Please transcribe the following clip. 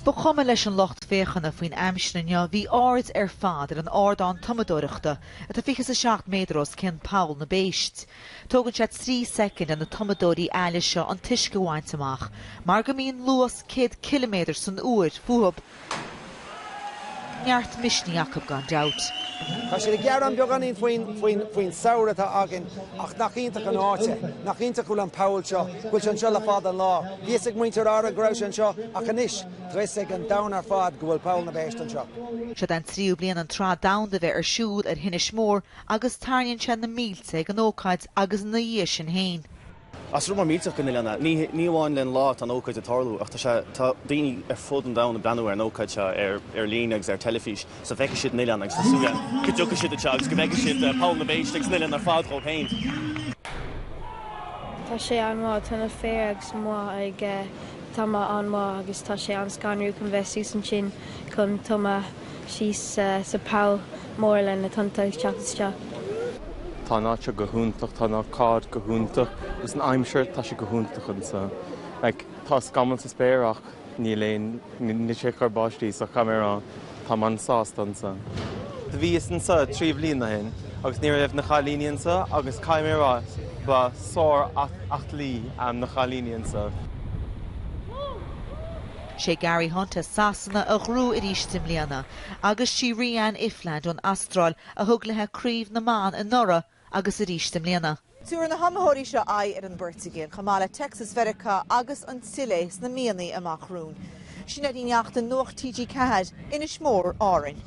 Ba chuma leis an lucht féachana faoin aimsir inniu, bhí an aird ar fad ar an ardán tumadóireachta atá fiche is a seacht méadar os cionn Poll na bPéist. Tógann sé trí soicind ar na tumadóirí aille seo an t-uisce a bhaint amach mar go mbíonn luas céad ciliméadar san uair fúthu. Neart misnigh acu gan dabht. Tá siad ag gearán beagáinín faoin samhradh atá againn ach nach iontach an áit é? Nach iontach go bhfuil an poll seo, go bhfuil sé anseo le fada an lá. Bhí 'fhios ag muintir Árann go raibh sé anseo ach anois tá 'fhios ag an domhan ar fad go bhfuil Poll na bPéist anseo. Seo é an tríú bliain an tSraith Domhanda bheith ar siúl ar Inis Mór agus tarraingíonn sé na mílte ag an ócáid agus ina dhiaidh sin féin. Is rud mór millteach don oileán é. Ní amháin le an lá atá an ócáid ag tarlú ach tá daoine ar fud an domhain ag breathnú ar an ócáid seo ar líne agus ar an teilifís so bhfeicfidh siad an oileán agus tá súil agam go dtiocfaidh siad anseo agus go bhfeicfidh siad Poll na bPéist agus an oileán ar fad dhóibh féin. Tá sé an-mhaith. Tá na fir agus mná ag tumadh an-mhaith agus tá sé an-scanrúil chun bheith suas ansin chun tumadh. síos sa bpoll mór le na tonnta ag teacht isteach. Tá an áit seo go hiontach, tá an ócáid go hiontach, agus an aimsir, tá sé go hiontach anseo. Like, tá scamaill sa spéir ach níl aon, níl sé ag cur báistí so caithfidh mé a rá táim an-sásta anseo. Do bhíos anseo trí bhliain ó shin agus ní raibh na cailíní anseo agus caithfidh mé a rá ba sár-aclaí iad na cailíní anseo. 'Sé Gary Hunt as Sasana a ghnóthaigh arís i mbliana, agus sí Rhiannan Iffland ón Astráil a thug léithe Craobh na mBan anuraidh agus arís i mbliana. Tabharfaidh na hiomaitheoirí seo aghaidh ar an bPortaingéil, chomh maith le Texas Mheiriceá agus an tSilé sna míonna amach romhainn. Sinéad Ní Neachtain, Nuacht TG4, Inis Mór, Árainn.